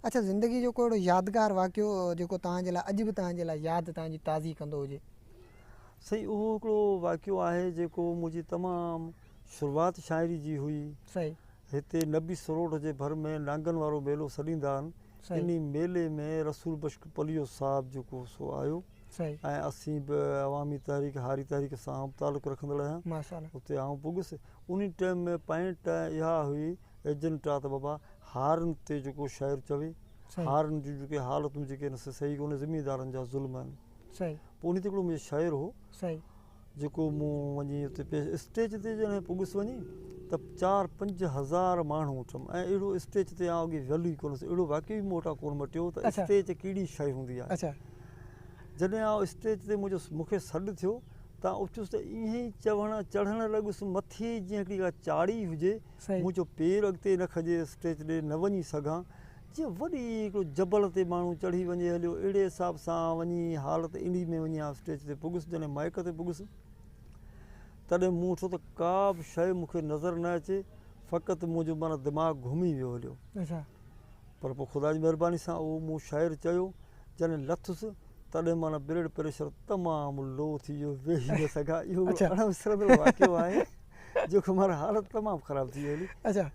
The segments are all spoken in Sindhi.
اچا زندگي جو ڪو اهڙو يادگار واقعو جيڪو توهان جي لاء اڄ به توهان جي لاء ياد توهان جي تازي ڪندو هجي. سائين اهو هڪڙو واقعو آهي جيڪو منهنجي تمام شروعات شاعري جي هئي صحيح. هتي نبي سروٺ جي ڀر ۾ نانگن وارو ميلو سڏيندا آهن صحيح. انهي ميلي ۾ رسول بخش پليو صاحب جيڪو سو آيو صحيح. ۽ اسين به عوامي تحريڪ هاري تحريڪ سان تعلق رکندڙ آهيان ماشاء الله. اتي آئون پڳس انهي ٽيم ۾ پينٽ اها هئي ايجنٽا ته بابا هارن تي جيڪو شاعر چوي هارن جون جيڪي حالتون جيڪي آهن سي صحيح ڪونهي زميندارن جا ظلم آهن پوء ان تي هڪڙو منهنجو شاعر هو جيڪو مون وڃي اتي پيش اسٽيج تي جڏهن پڳس وڃي ته چار پنج هزار ماڻهو اٺم ۽ اهڙو اسٽيج تي آء اڳي ويل ئي ڪونه هوس اهڙو واقعي به مون وٽان ڪونه مٽيو ته اسٽيج ڪهڙي شيء هوندي آهي جڏهن آء اسٽيج تي منهنجو مون کي سڏ ٿيو ته آء اٿيس ته ايئن ئي چوڻ چڙهڻ لڳس مٿي جيئن هڪڙي ڪا چاڙهي هجي مون چيو پير اڳتي نه کڄي اسٽيج ڏي نه وڃي سگهان، جيئن وڏي هڪڙو جبل تي ماڻهو چڙهي وڃي هليو اهڙي حساب سان آئون وڃي حالت اهڙي ۾ وڃي آئون اسٽيج تي پڳس جڏهن مائيڪ تي پڳس تڏهن مون ڏٺو ته ڪا به شيء مون کي نظر نه اچي فقط منهنجو معنيٰ دماغ گهمي ويو هليو پر پوء خدا جي مهرباني سان اهو مون شعر چيو جڏهن لٿس تڏهن معنيٰ بلڊ پريشر تمام لو ٿي ويو ويهي نه سگهان اهو اڻ وسرندڙ واقعو آهي. جوکي مارا حالت تمام خراب ٿي وئي هلي. اچا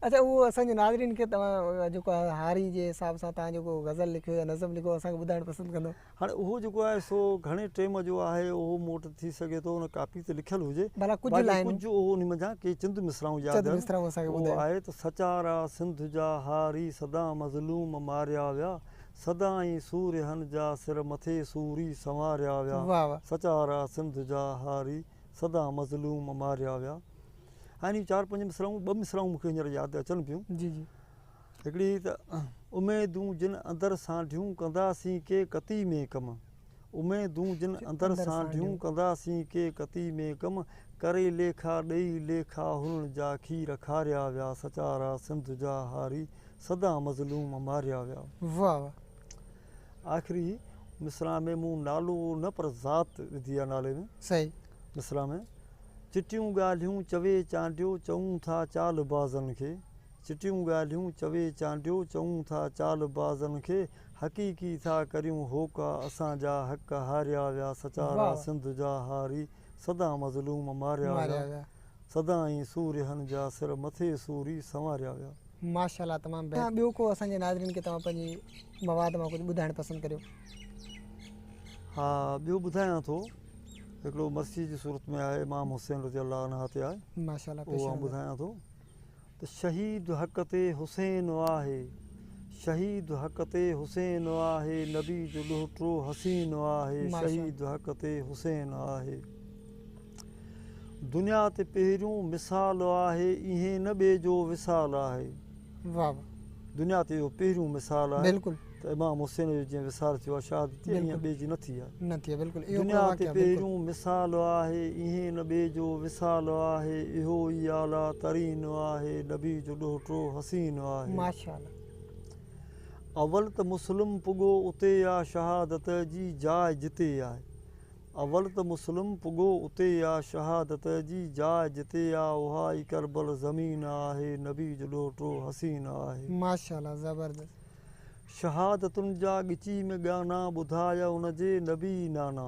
اچا اهو اسان جي ناظرين کي توهان جيڪو آهي هاري جي حساب سان توهان جيڪو غزل لکيو يا نظم لکيو اسان کي ٻڌائڻ پسند ڪندو. هاڻي اهو جيڪو آهي سو گهڻي ٽيم جو آهي اهو مون وٽ ٿي سگهي ٿو ان ڪاپي تي لکيل هجي ڀلا ڪجهه لائنون باقي ڪجهه انهي منجهان ڪي چند مصرعون ياد آهن چند مصرعون اسان کي ٻڌايو اهو آهي ته سچارا سنڌ جا هاري سدا مظلوم ماريا ويا سدا ۽ سورهين جا سر مٿي سوري سنواريا ويا واهه واهه. سچارا سنڌ جا هاري سدا مظلوم ماريا ويا. يعني چار پنج مصرعون ٻه مصرعون مون کي هينئر ياد اچن پيون. جي جي. هڪڙي ته اميدون جن اندر سانڍيون ڪنداسين ڪي ڪتي ۾ ڪم. اميدون جن اندر سانڍيون ڪنداسين ڪي ڪتي ۾ ڪم. ڪري ليکا ڏئي ليکا هنن جا کير کاريا ويا. سچارا سنڌ جا هاري سدا مظلوم ماريا ويا. واهه واهه. آخري مصرع ۾ مون نالو نه پر ذات وڌي آ نالي ۾ صحيح مصرع ۾ چٽيون ڳالهيون چوي چانڊيو چئون ٿا چال بازن کي چٽيون ڳالهيون چوي چانڊيو چئون ٿا چال بازن کي حقيقي ٿا ڪريون هوڪا اسان جا حق هاريا ويا سچارا سنڌ جا هاري سدا مظلوم ماريا ويا سدائين سورهن جا سر مٿي سوري سنواريا ويا. ماشاءالله تمام بهترين ٻيو ڪو اسان جي ناظرين کي توهان پنهنجي مواد مان ڪجهه ٻڌائڻ پسند ڪريو. ها ٻيو ٻڌايان ٿو هڪڙو مرثيي جي صورت ۾ آهي امام حسين رضي الله عنه تي آهي ماشاءالله اهو آئون ٻڌايان ٿو. ته شهيد حق تي حسين آهي شهيد حق تي حسين آهي نبي جو ڏوهٽو حسين آهي شهيد حق تي حسين آهي دنيا تي پهريون مثال آهي ايئن نه ٻئي جو وصال آهي دنيا تي اهو پهريون مثال آهي ته امام حسين جو جيئن وصال ٿيو آهي شهادت تيئن هن ٻئي جي نه ٿي آهي. دنيا تي پهريون مثال آهي ايئن ان ٻئي جو وصال آهي اهو ئي اعليٰ ترين آهي نبي جو ڏوهه ٽو حسين آهي. اول ته مسلم پڳو اتي آ شهادت جي جاء جتي آ اول ته مسلم پڳو اتي آ شهادت جي جاء جتي آ اها ئي ڪربل زمين آهي نبي جو ڏوهه ٽو حسين آهي. شهادتن جا ڳچي ۾ ڳانا ٻڌاء ان جي نبي نانا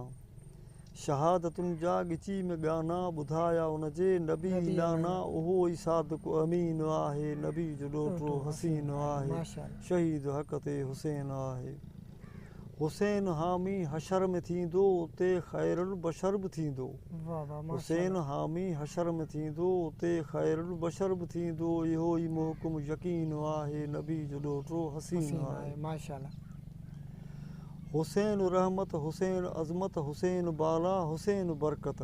شهادتن جا ڳچي ۾ ڳانا ٻڌاء ان جي نبي نانا اهو ئي صادق امين آهي نبي جو ڏوهٽو حسين آهي شهيد حق تي حسين آهي حسين حامي حشر ۾ ٿيندو اتي خير البشر به ٿيندو حسين حامي حشر ۾ ٿيندو اتي خير البشر به ٿيندو اهو ئي محڪم يقين آهي نبي جو ڏوهٽو حسين آهي حسين رحمت حسين عظمت حسين بالا حسين برڪت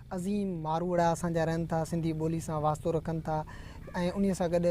عظيم ماروئڙا اسان جا رهن ٿا، سنڌي ٻولي سان واسطو رکن ٿا ۽ انهيء سان گڏ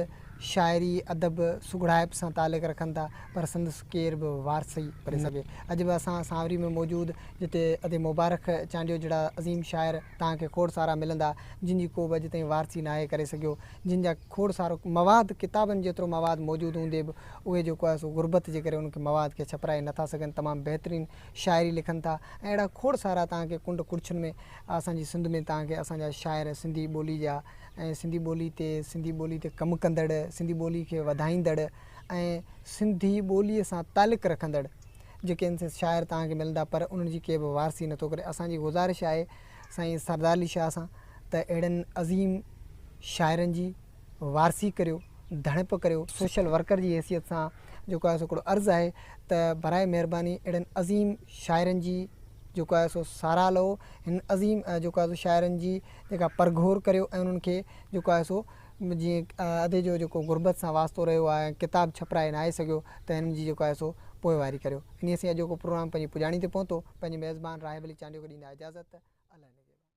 شاعري، ادب، سگهڙائپ سان تعلق رکن ٿا، پر سندس ڪير به وارثي ڪونهي سگهي. اڄ به اسان سانوري ۾ موجود جتي ادي مبارڪ چانڊيو جهڙا عظيم شاعر توهان کي کوڙ سارا ملندا، جن جي ڪو به اڄ تائين وارثي ناهي ڪري سگهيو، جن جا کوڙ سارو مواد، ڪتابن جيترو مواد موجود هوندي به اهي جيڪو آهي سو غربت جي ڪري ان کي مواد کي ڇپرائي نٿا سگهن، تمام بهترين شاعري لکن ٿا ۽ اهڙا کوڙ سارا توهان کي ڪنڊ ڪڙڇن ۾ اسان جي سنڌ ۾ توهان کي اسان جا شاعر سنڌي ٻولي جا ۽ سنڌي ٻولي تي سنڌي ٻولي تي ڪم ڪندڙ سنڌي ٻولي کي وڌائيندڙ ۽ سنڌي ٻولي سان تعلق رکندڙ جيڪي شاعر توهان کي ملندا پر انهن جي ڪي به وارثي نٿو ڪري اسان جي گذارش آهي سائين سردار علي شاهه سان ته اهڙن عظيم شاعرن جي وارثي ڪريو، ڌڻپ ڪريو، سوشل ورڪر جي حيثيت سان جيڪو آهي سو هڪڙو عرض آهي ته براء مهرباني اهڙن عظيم شاعرن جي جيڪو آهي سو ساراهه لهو، هن عظيم جيڪو آهي سو شاعرن جي جيڪا پرگهور ڪريو ۽ انهن کي جيڪو آهي سو جيئن ادي جو جيڪو غربت سان واسطو رهيو آهي ۽ ڪتاب ڇپرائي ناهي سگهيو ته هنن جي جيڪو آهي سو پوئواري ڪريو. انهيء سان اڄوڪو پروگرام پنهنجي پڄاڻي تي پهتو، پنهنجي ميزبان راهب علي چانڊيو کي ڏيندا اجازت ته الله نگهبان.